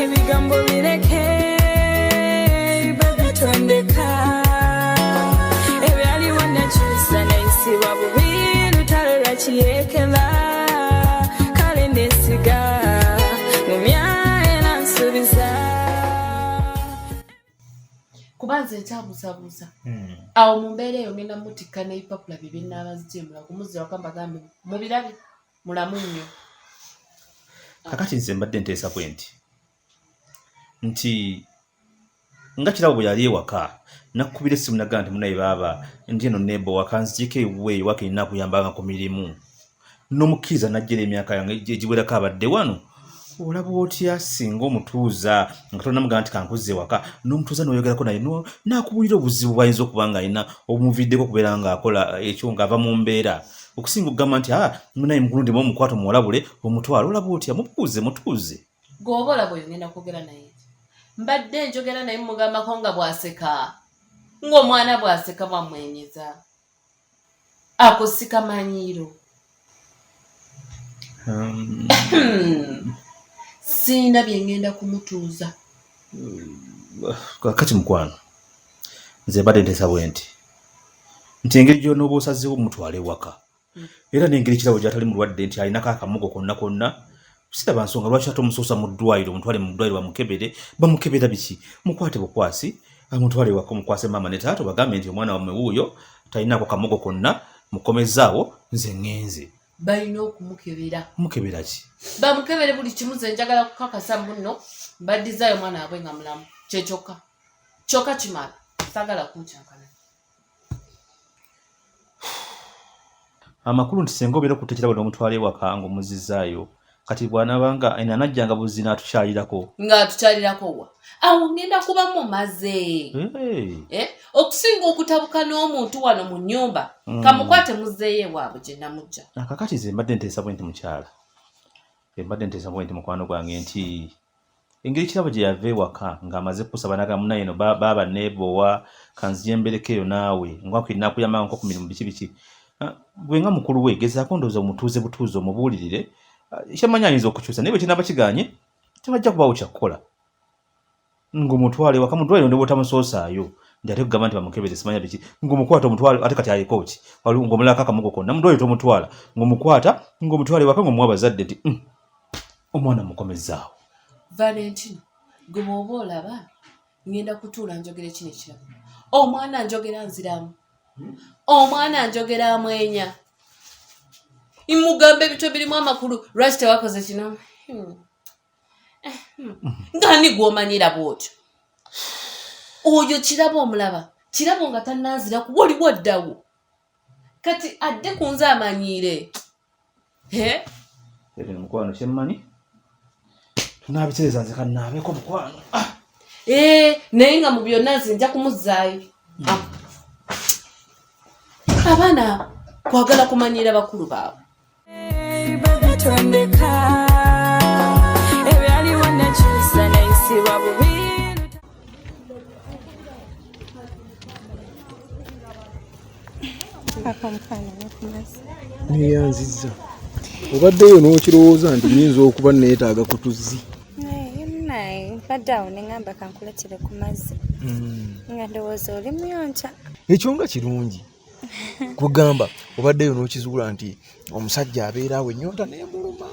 ebigambo bireke babitondeka ebyaliwo nekyusa nayisibwa bubi lutalo lwakiyekela kale nesiga mumya era nsubiza kuba nze nkyabuzabuza hmm. awo mu mbeera eyo ngenda mutikka n'ebipapula bye bye nnaaba zigyemula kumuzira waka mbagambe mubirabye mulamu nnyo kakati nze mbadde nteesa kwe nti nti nga kirabo bwe yali ewaka nakukubira essimu naga nti munaye baaba ndi eno nebo wakanzikiiko ewuwe ewaka erina akuyambanga ku mirimu n'omukkiriza najjera emyaka yange egiwerako abadde wano olaba otya singa omutuuza nga tonamugamba nti kankuzza ewaka n'omutuuza noyogerako naye nakubuulira obuzibu bwayinza okuba nga alina obumuviddeko okubeera ngaakola eh, ekyo ngaava mu mbeera okusinga okugamba nti a ah, munaye mugulundemu omukwata omuwalabule omutwalo olaba otya mubuuze mutuuze gwoba olaba oyo ngenda kwogera naye mbadde njogera naye mugambako nga bwaseka ng'omwana bwaseka bwamwenyeza ako sikamanyiiro um. sirina bye ngenda kumutuuza kakati mukwano nze mbadde nteesa bwe nti nti engeri gyonooba osazeewo mutwale ewaka hmm. era n'engeri kirabo gyatali mulwadde nti alinako akamugo konna konna siraba nsonga lwaki ate omusuusa mu ddwaliro omutwale mu ddwaliro bamukebere bamukebera biki mukwate bukwasi amutwale waka omukwase maama ne taata obagambe nti omwana wamwe wuuyo talinaako kamogo konna mukomezaawo nze ŋŋenze balina okumukebera mukebera ki bamukebere buli kimu ze njagala kukakasa muno mbaddizayo omwana wabwe nga mulamu kyekyokka kyokka kimala sagala kuncankana amakulu nti senga obeera okutekera bano omutwala ewaka nga omuzizaayo kati bwanabanga ena anajjanga buzzi n'atukyalirako ng'atukyalirako wa awo ngenda kuba mumaze eh, okusinga okutabuka n'omuntu wano mu nnyumba hmm. kamukwate muzeeyo ewaabwe gye namujja akakati ze mbadde nteesa bwe nti mukyala embadde nteesa bwe nti mukwano gwange nti engeri kirabo gye yava ewaka ng'amaze kusaba naga munaye no baaba neebowa kanziyembereko eyo naawe ngwakuinakuyamba nko ku mirimu biki biki ah, gwe nga mukulu we gezaako ndowooza omutuuze butuuzi omubuulirire ah, kyamanyi ayinza okukyusa naye bwe kinaaba kiganye tebajja kubaawo kyakukola ng'omutwale waka mudwaliro ne bwotamusoosaayo nti ate kugamba nti bamukebeze simanya biki ng'omukwata omutwale ate kati ayeko ki ng'omulako akamugo konna mudwaliro tomutwala ng'omukwata ng'omutwale waka ng'omuwa abazadde nti mm, omwana mukomezaawo valentino gwe bwoba olaba ngenda kutuula njogera ekino ekirabo omwana njogera nziramu omwana njogera amwenya imugamba ebito birimu amakulu lwaki tewakoze kino hmm. eh, hmm. ngani gwomanyira bwotyo oyo kirabo omulaba kirabo nga tananziraku waliwo ddawo kati adde kunze amanyiire Ekyo mukwano kyemmanyi tunaabitereeza nze kannaabeko mukwano ah! eh, naye nga mu byonna nze nja kumuzzaayo hmm. ah. abaana kwagala kumanyiira bakulu baabwe neyanziza obaddeyo n'okirowooza nti nyinza okuba neetaaga ku tuzzi mbadde awo neŋamba kankuletire ku mazzi hmm. nga ndowooza oli muyonca ekyo nga kirungi kugamba obaddeyo n'okizuula nti omusajja abeera awo ennyonta nemuluma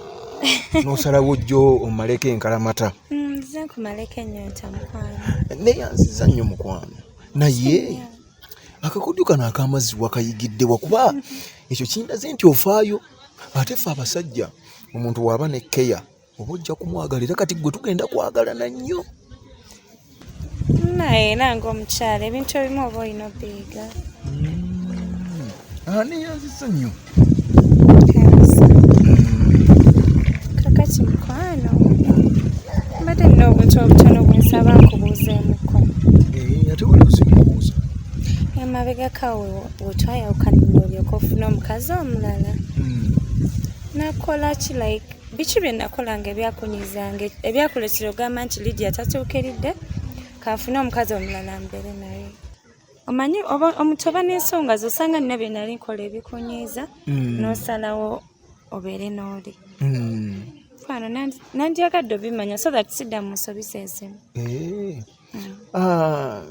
n'osalawo jjo omumaleko enkalamata mm, nze nkumaleko ennyonta mukwano neyanziza nnyo mukwano naye akakodyo kano akamazzi wakayigidde wakuba ekyo kindaze nti ofaayo ate fe abasajja omuntu waaba ne keya oba ojja kumwagala era kati gwe tugenda kwagalana nnyo naye era ngaomukyala ebintu ebimu oba olina obiyiga hmm. ani yanzisa nnyo kakati mukwano mbadde nina obuntu obutono bwensaba nkubuuzeemuko eh, ate waliuzimubuuza emabegaka wetwayawukanira olyoka ofuna omukazi omulala hmm. nakola ki like biki bye nakolanga ebyakunyizanga ebyakuletera ogamba nti lidia tatuukiridde kanfune omukazi omulala mbeere naye omanyi omuntu oba n'ensonga zosanga nina bye nali nkola ebikunyiiza hmm. n'osalawo obeere n'oli hmm. fano nandyagadde obimanya so that sidda mu nsobi zeezimu eh. hmm. ah,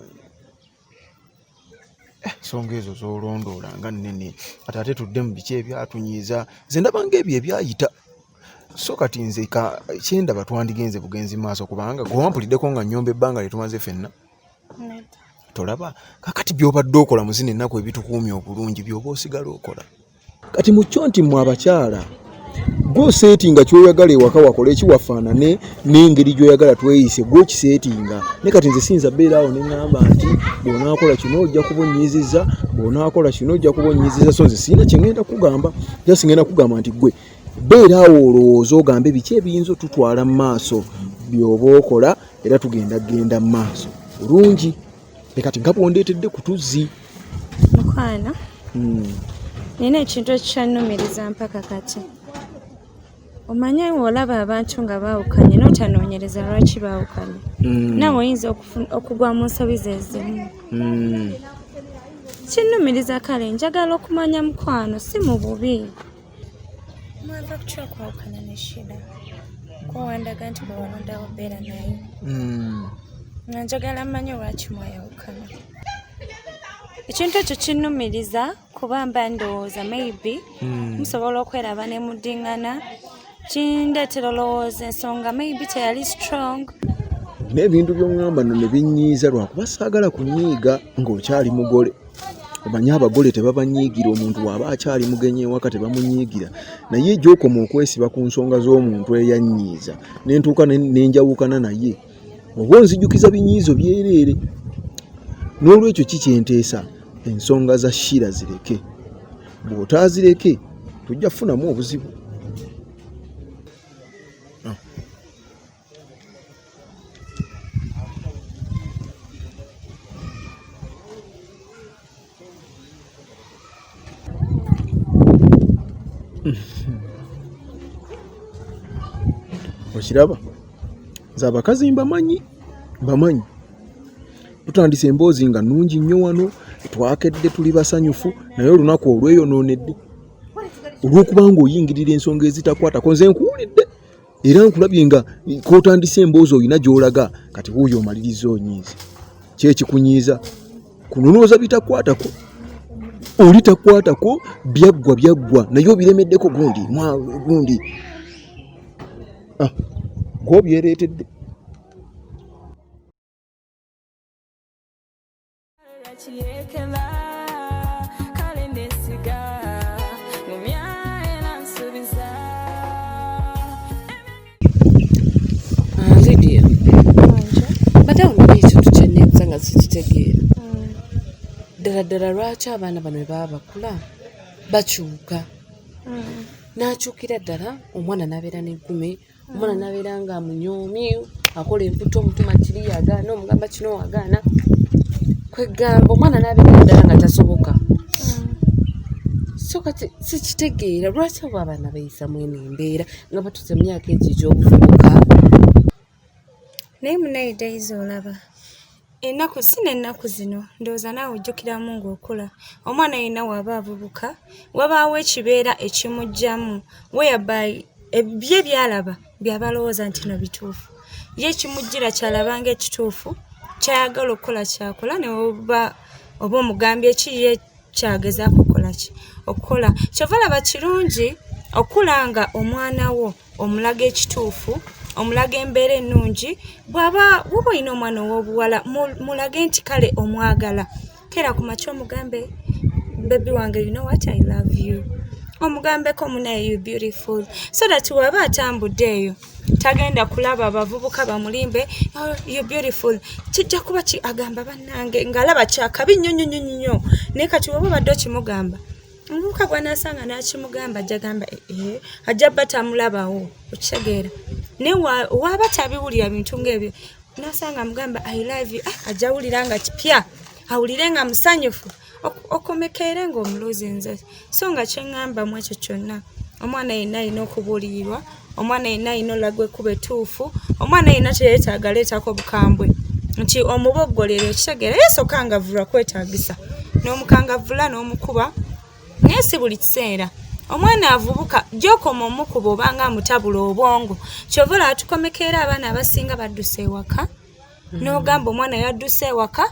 ensonga ezo zolondoola nga nnene kati ate tudde mu biki ebyatunyiiza nze ndabanga ebyo ebyayita so kati nze kyendaba twandigenze bugenzi maaso kubanga gwewampulideko nga nyomba ebbanga lyetumaze fenna tolaba kakati byobadde okola muzina ennaku ebitukuumya obulungi byoba osigala okola kati mukyo nti mwe abakyala gwosetinga kyoyagala ewaka wakola ekiwafaanane n'engeri gyoyagala tweyise gwokisetinga naye kati nze siyinza beera awo neŋamba nti bwonakola kino ojja kuba onyiziza bwonakola kino ojja kuba onyiziza so nze siyina kyengenda kugamba jasi ngenda kugamba nti gwe beera awo olowooza ogambe biki ebiyinza otutwala mu maaso byoba okola era tugenda kugenda mu maaso olungi leka ti gabo ondeetedde ku tuzzi mukwana hmm. nina ekintu ekikyannumiriza mpaka kati omanyi olaba abantu nga baawukanye notanoonyereza lwaki baawukanye hmm. nawe oyinza okugwa mu nsobi zezimu hmm. kinnumiriza kale njagala okumanya mukwano si mu bubi mwava kutya kwawukana ne shida kwewandaga nti bwe walondawo beera naye hmm. nga njagala mmanyi lwaki mwayawukana ekintu ekyo kinnumiriza kuba mba ndowooza maybe hmm. musobola okweraba ne mudingana kindeetera olowooza ensonga maybe teyali strong naye ebintu byongamba no ne binyiiza lwakuba saagala kunyiiga ng'okyali mugole omanyi abagole tebabanyiigira omuntu waaba akyali mugenyi ewaka tebamunyiigira naye gyokoma okwesiba ku nsonga z'omuntu eyannyiiza nentuuka nenjawukana naye oba onzijukiza binyiizo byereere n'olwekyo ki kyenteesa ensonga za shiira zireke bw'otaazireke tojja kufunamu obuzibu okiraba nze abakazi mbamanyi mbamanyi tutandise emboozi nga nungi nnyo wano twakedde tuli basanyufu naye olunaku olweyonoonedde olw'okuba nga oyingirira ensonga ezitakwatako nze nkuwulidde era nkulabye nga kotandise emboozi olina gyolaga kati wuuyo omaliriza onyiiza kyekikunyiiza kunonooza bitakwatako oli takwatako byaggwa byaggwa naye obiremeddeko gundi gundi ah, gwobyereetedde ddala ddala lwaki abaana bano bebaba bakula bakyuka hmm. nakyukira ddala omwana nabeera negume omwana nabeera nga amunyoomi akola emputa omutuma kiri yagaana omugamba kino wagaana kwegamba omwana nabeera ddala nga tasoboka so kati sikitegeera lwaki abo abaana bayisa mwene embeera nga batuze mu myaka egyo egyobuvubuka naye munaye dayiza olaba Ennaku si n'ennaku zino ndowooza naawe ojjukiramu ng'okula omwana yenna w'aba avubuka wabaawo ekibeera ekimuggyamu whereby ebibye by'alaba by'aba alowooza nti no bituufu ye ekimujjira ky'alaba ng'ekituufu ky'ayagala okukola ky'akola ne oba oba omugambye ki ye ky'agezaako okukola ki okukola ky'ova laba kirungi okula nga omwana wo omulaga ekituufu omulaga embeera ennungi bwaba woba olina omwana ow'obuwala mulage nti kale omwagala kera ku makya omugambe bebi wange you know what i love you omugambeko munaye you beautiful so that waba atambudde eyo tagenda kulaba abavubuka bamulimbe oh, you beautiful kijja kuba ki agamba bannange ng'alaba kyakabi nnyo nnyo nnyo nnyo naye kati woba obadde okimugamba omuvubuka gwanasanga nakimugamba jagamba ee eh, eh, ajja ba tamulabawo okitegeera naye waba tabiwulira bintu ngaebyo nasanga mugamba i love you ah, ajja wulira nga kipya awulire nga musanyufu okomekeere ngaomulozi nze so nga kyeŋŋamba mu ekyo kyonna omwana yenna alina okubuulirirwa omwana yenna alina olaga ekkuba ettuufu omwana yenna teyetaaga leetako bukambwe nti omuboggolero ekitegeera yesokangavulwa kwetagisa n'omukangavula n'omukuba naye si buli kiseera omwana avubuka gyokoma omukuba obanga amutabula obwongo kyova olaba tukomeka era abaana abasinga baddusa ewaka n'ogamba omwana yadduse ewaka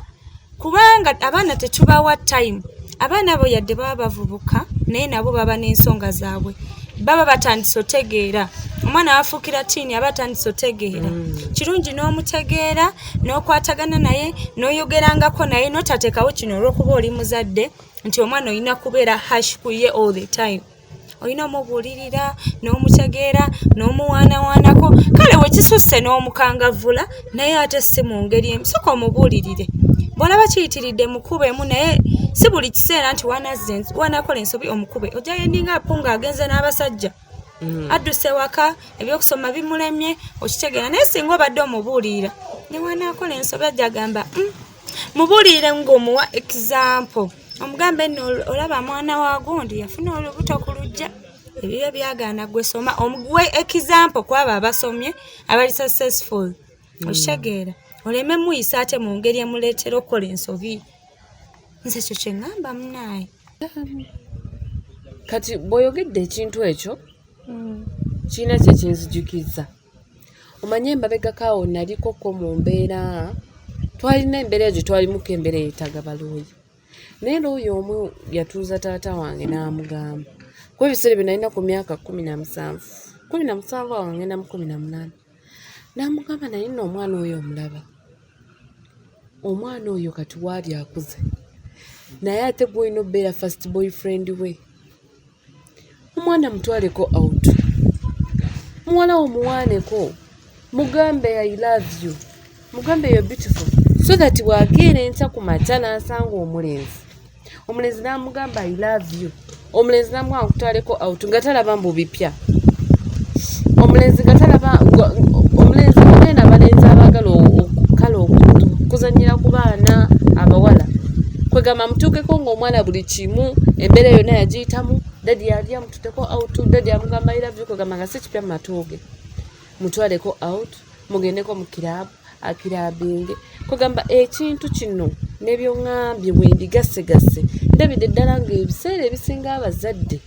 kubanga abaana tetubawa time abaana abo yadde baba bavubuka naye nabo baba n'ensonga zaabwe baba batandise otegeera omwana wafuukira tiini aba atandise otegeera mm. kirungi n'omutegeera n'okwatagana naye n'oyogerangako naye notateekawo kino olwokuba oli muzadde nti omwana olina kubeera hash kuye all the time olina omubuulirira n'omutegeera n'omuwaanawaanako kale wekisusse n'omukangavvula naye ate si mu ngeri emu soka omubuulirire bw'olaba kiyitiridde mukuba emu naye si buli kiseera nti wanakola ensobi omukube ojja yendinga apo ng'agenze n'abasajja mm. adduse waka ebyokusoma bimulemye okitegeera naye singa obadde omubuulirira ne wanakola ensobi ajja gamba mm. mubuliire ng'omuwa ekizampo omugambe nno olaba mwana wa gundi yafuna olubuto ku lujja ebiyo byagaana gwe soma omuguwe ekizampo kwabo abasomye abali successful hmm. okitegeera oleme muyisa ate mu ngeri emuleetera okukola ensobi nze ekyo kye ŋŋamba munaaye kati bw'oyogedde ekintu ekyo hmm. kirina kye kinzijukizza omanye embabegako awo naliko ko mu mbeera twalina embeera egyo twalimuko embeera eyetaga balooyi naye looyi omu yatuuza taata wange n'amugamba ku ebiseera bye nalina ku myaka kumi na musanvu kumi na musanvu awo ngenda mu kumi na munaana n'amugamba naye nno omwana oyo omulaba omwana oyo kati waali akuze naye ate gwolina obeera fast boyfriend we omwana mutwaleko out muwala wo muwaaneko mugambe i love you mugambe yo beautiful so that bwakeera enkya ku makya n'asanga omulenzi omulenzi n'amugamba i love you omulenzi n'amuwa nkutwaleko out nga talaba mbu bipya omulenzi nga talaba omulenzi mugenda abalenzi abaagala kale okuzanyira ku baana abawala kwegamba mutuukeko ng'omwana buli kimu embeera yonna yagiyitamu dadi yali amututeko out dadi amugamba ilavyo kwegamba nga si kipya mu matuuge mutwaleko out mugendeko mu kiraabu akirabinge kwegamba ekintu kino nebyoŋambye wendigasegase ndabidde ddala ngaebiseera ebisinga abazadde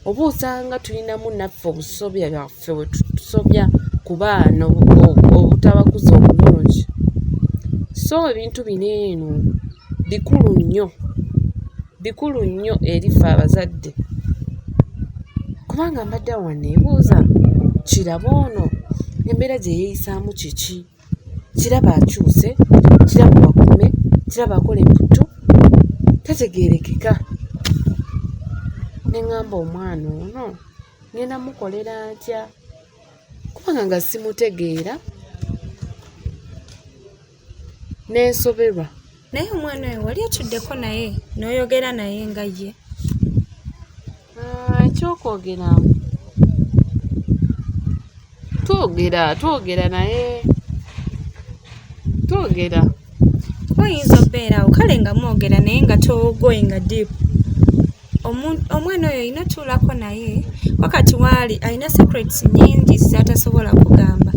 oba osanga tulinamu naffe obusobya bwaffe wetusobya ku baana obutabakuza obulungi so ebintu bino eno bikulu nnyo bikulu nnyo eri ffe abazadde kubanga mbadde awo wanneebuuza kiraba ono embeera gye yeeyisaamu kiki kiraba akyuse kiraba wakume kiraba akola emputtu tategeerekeka ne ŋŋamba omwana ono ŋŋenda mukolera ntya kubanga nga simutegeera nensoberwa naye omwana oyo wali otuddeko naye n'oyogera naye nga ye ah, ekyokwogera twogera twogera naye twogera oyinza obeeraawo kale nga mwogera naye nga togoinga deep omwana oyo olina otuulako naye wakati waali alina secrets nyingi zatasobola kugamba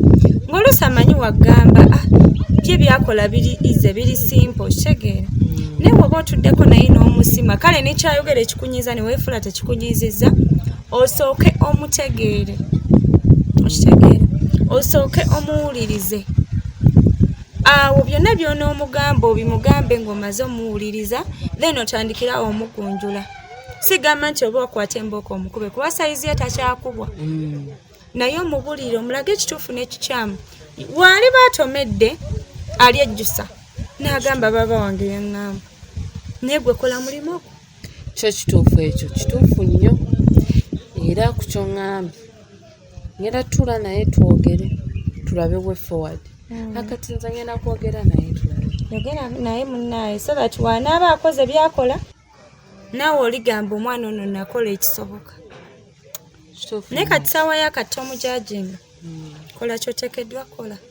ngaoluusi amanyi wagamba ah, bye byakola biri ize biri simpo kitegeera hmm. naye woba otuddeko naye n'omusima kale nekyayogera ekikunyiza neweefula tekikunyiziza osooke omutegeere okitegeere osooke omuwulirize awo byonna by'onoomugamba obimugambe ng'omaze omuwuliriza then otandikirawo omugunjula sigamba nti oba okwata embooko omukube kuba sayizi ye takyakubwa mm. naye omubulire omulaga ekituufu n'ekikyamu waali baatomedde ali ejjusa n'agamba baaba wange yaŋŋamba naye gwe kola mulimu ogwo kyo kituufu ekyo kituufu nnyo era ku kyoŋŋambye ngenda tula naye twogere tulabe way forward hmm. akati nze ngenda kwogera naye tulabe yogera naye munnaye so that wanaaba akoze byakola naawe oligamba omwana ono nakola ekisoboka naye kati saawa yakati omujajinga hmm. kola kyotekeddwa kola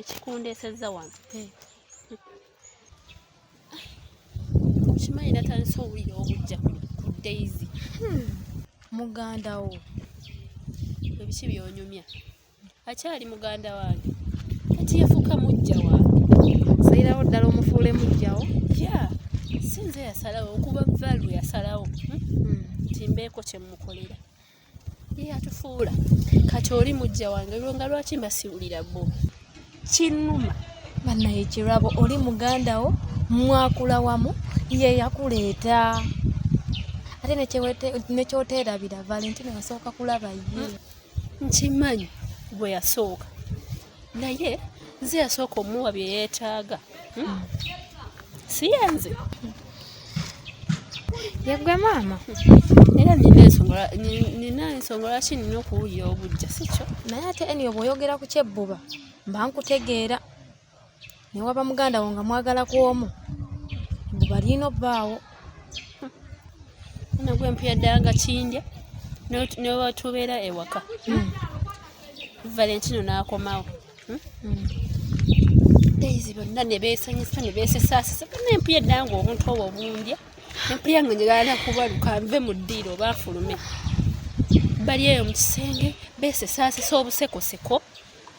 ekikundeesezza wano eh. kimanyi natandise owulira obujja ku daisy hmm. muganda wo ebiki byonyumya akyali muganda wange kati yafuuka mujja wange salirawo ddala omufuule mujjawo ya sinze yasalawo okuba valu yasalawo hmm? hmm. nti mbeeko kyemukolera yatufuula kati oli mujja wange lwonga lwaki mbasiwulira bo kinuma banaye kirabo oli muganda wo mwakula wamu yeyakuleeta ate nekyoteerabira valentine wasooka kulaba ye nkimanyi gwe yasooka naye nze yasooka omuwa bye yeetaaga hmm? hmm. si yenze yegwe maama era nina ensonga lwaki nina okuwulira obujja sikyo naye ate eni obwoyogera ku kyebbuba mba nkutegeera ne waba muganda wo nga mwagala ku omu mbu balina obbaawo nagwe mpuya ddala nga kindya newatubeera ewaka hmm. valentino n'akomawo hmm? hmm. daisy bonna ne beesanyusa ne beesesaasisa bonna empuya ddala nga obuntu obwo obundya empuya nga njagala nakubaluka nve mu ddiiro oba nfulume bali eyo mu kisenge beesesaasisa obusekoseko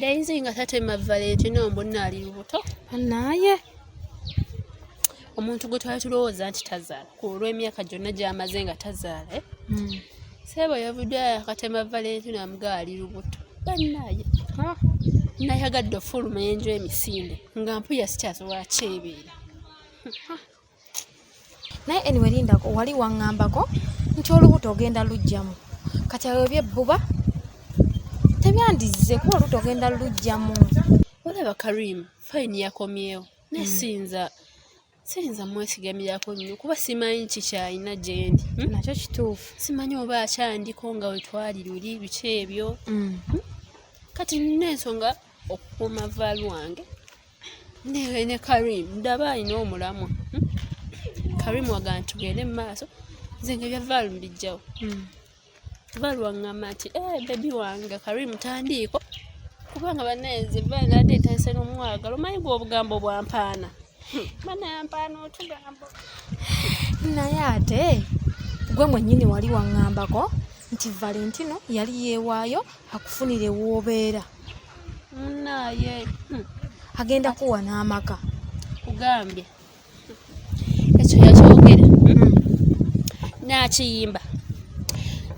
Daisy nga tatema Valet no mbonna ali lubuto. Naye omuntu gwe twali tulowooza nti tazaala ku olw'emyaka gyonna gy'amaze nga tazaala eh? hmm. seebo yavudde akatema Valentino amugaa ali lubuto bannaaye nayagadde ofuluma enju emisinde nga mpuya sikyasobola kyebeera naye anyway lindako wali waŋŋambako nti olubuto ogenda lujjamu kati awo ebyebbuba tebyandizze kuba olubuto ogenda lujjamu olaba karim fayini yakomyewo naye hmm. siyinza siyinza mwesigamirako nnyo kuba simanyi kikyalina gyendi hmm? nakyo kituufu simanyi oba akyandiko nga wetwali luli biki ebyo hmm. kati nina ensonga okukuuma vaalu wange ne karim ndaba alina omulamwa hmm? karim waga nti gende mu maaso nze nga byavaal mbijjawo hmm. vaal waŋŋamba nti e eh, bebi wange karim tandiiko kubanga banaye nze vaal nadde ntayise n'omwagalo manyi gwe obugambo bwampaana hmm. banayampaana otugambo naye ate gwe mwennyini wali waŋŋambako nti valentino yali yeewaayo akufunire woobeera naye hmm. agenda kuwa n'amaka kugambye ekyo yakyogera hmm. nakiyimba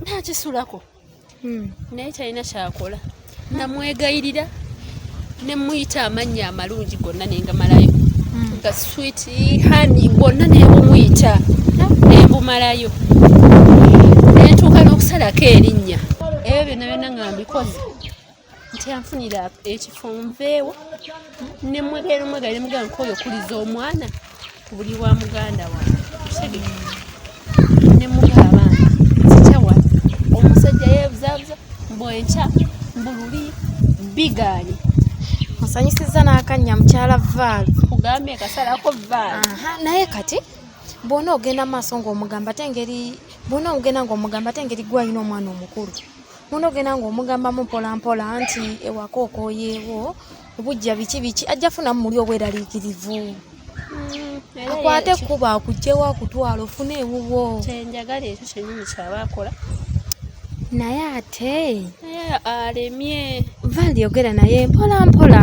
nakisulako hmm. naye talina kyakola namwegayirira ne muyita amannya amalungi gonna nengamalayo hmm. nga swit hani gonna nebumuyita nembumalayo nentuuka n'okusalako erinnya ebyo byonna byonna nga mbikoze nti anfunira ekifo nveewo nemwegaire omwegaire mugamba nkoyo okuliza omwana kubuli wa muganda wange nemugaba nzikyawa omusajja yebuzabuza mbu enkya mbululi bigaali osanyusiza n'akannya mukyala vaal kugambye kasalako vaal naye kati bwona ogenda maaso ngaomugamba te ngeri bwona ogenda ngaomugamba te ngeri gwalina omwana omukulu bwona ogenda ngaomugambamu mpolampola nti ewaka okoyeewo obujja biki biki ajja funamu muli obweraliikirivu hmm, akwate ekkubo akugjewo akutwala ofune ewuwo kyenjagala ekyo kyenyini kyaba akola naye ate alemye vali yogera naye mpola mpola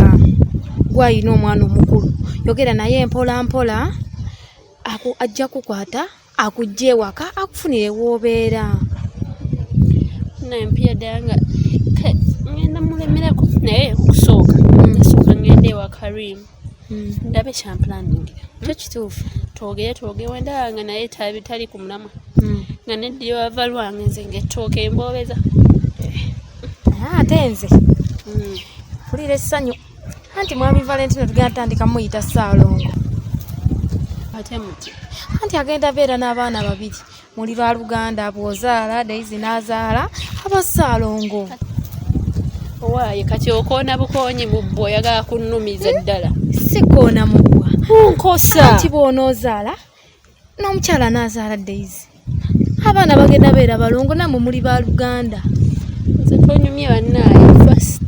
gwayina omwana omukulu yogera naye mpola mpola ajja kukwata akujja ewaka akufunire woobeera nampia ddala nga ngenda mulemerako naye okusooka hmm. nasooka ngenda ewa karim hmm. ndabe kyampulaningira kyo kituufu twogere twogere wendaba nga naye tali ku mulamwa hmm. nga neddiri wava lwange nze ngaettooka emboobeza eh. ah, ate nze mpulira essanyu anti mwami valentino tugenda tandika muyita saalongo ate muti anti agenda beera n'abaana babiri muli lwa luganda bwozaala daizi n'azaala aba saalongo owaaye kati okoona bukoonyi mu bbwa oyagala kunnumiza eddala sikoona mu bbwa nkosa anti bw'onoozaala n'omukyala anaazaala days abaana bagenda beera balongo namwe muli ba luganda nze tonyumye bannaaye first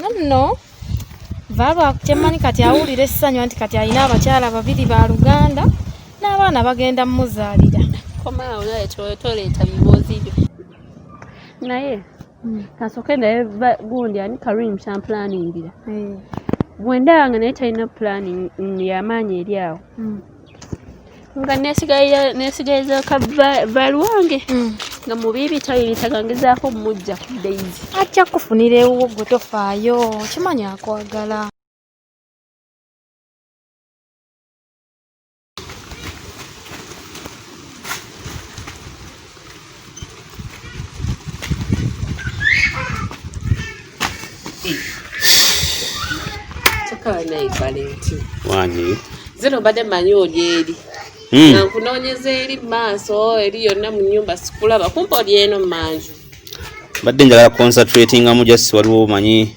nonno vaalwa kyemmanyi kati awulira essanyu nti kati alina abakyala babiri ba luganda n'abaana bagenda mumuzaalira komaawo naye toleeta biboozi byo naye hmm. kasoke naye gundi ani karim kyampulaningira hmm. bwendaba nga naye talina pulani yamaanyi eri awo hmm. nga nesigaliza ka val wange nga mubibi tayiritagangezaako mujja ku daisy ajja kufunira ewuwo gwe tofaayo okimanyi akwagala wani zino mbadde manyi oli eri hmm. nga nkunoonyeza eri maaso eri yonna mu nyumba sikulaba kumpa oli eno manju mbadde njagala concentratingamu just waliwo manyi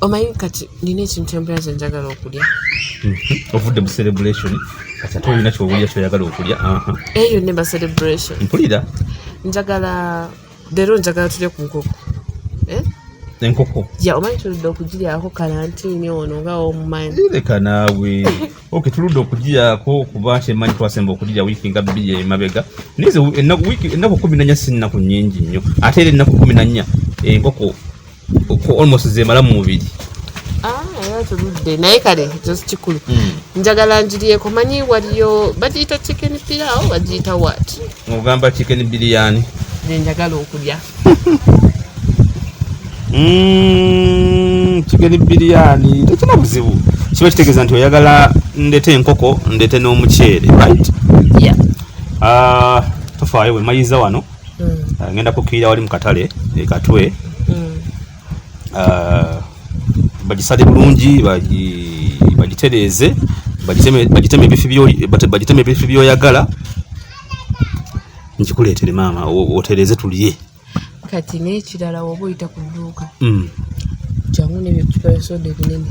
omanyi kati nina ekintu empera ze njagala okulya mhm. ovudde mu celebration kati ate olina kyowulira kyoyagala okulya eyo ne ba celebration mpulira njagala leero njagala tulye ku nkoko eh? enkoko ya omanyi tuludde okugiryako kalantini ono nga omumanyi leka naawe oke tuludde okugiryako kuba nti emanyi twasemba okugirya wiiki nga bbiri emabega naye ennaku kumi nanya si nnaku nyingi nnyo ate era ennaku kumi nanya enkoko almost zemala mu mubiri ah, tuludde naye kale ekyo kikulu hmm. njagala njiriyeko manyi waliyo bagiyita chicken pilawo bagiyita wat ogamba chicken biriyani nenjagala okulya hmm, chicken biriyani tekina buzibu kiba kitegeeza nti oyagala ndete enkoko ndete n'omuceere right yeah. uh, tofaayo wemayiza wano mm. uh, ngenda kukirira wali mu katale ekatwe mm. uh, bagisale bulungi bagitereeze bagiteme ebifi byoyagala nkikuleetere maama otereeze tulye kati n'ekirala woba oyita ku dduuka mm. jangu nebyo tupayo soda ebinene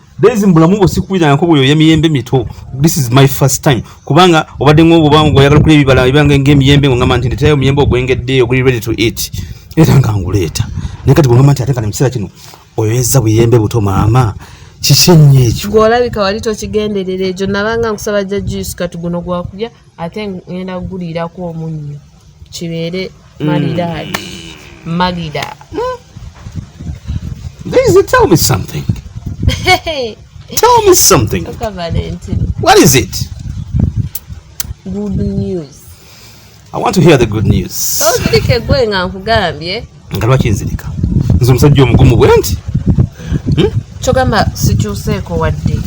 Daisy mbulamu bwo sikuwulira nako bwo yoya miyembe mito. This is my first time. Kubanga obadde ng'obo bangu oyagala kulya ebibala ebyange ng'emiyembe ngo ngamba nti ndeetayo omuyembe ogwengedde oguli ready to eat. Era nga nguleeta. Naye kati bw'ongamba nti ate nga ne mu kiseera kino oyoyezza buyembe buto maama. Kiki nnyo ekyo? Gw'olabika wali tokigenderera ekyo nabanga nkusaba jja juice kati guno gwakulya ate ng'enda kuguliirako omunnyo. kibeere malidaadi mm. malida hmm? tell me something tell me something what is it good news i want to hear the good news ozirika egwe nga nkugambye nga lwaki nzirika nze omusajja omugumu bwe nti hmm? kyogamba sikyuseeko wadde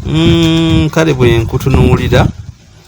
hmm? kale bwe nkutunuulira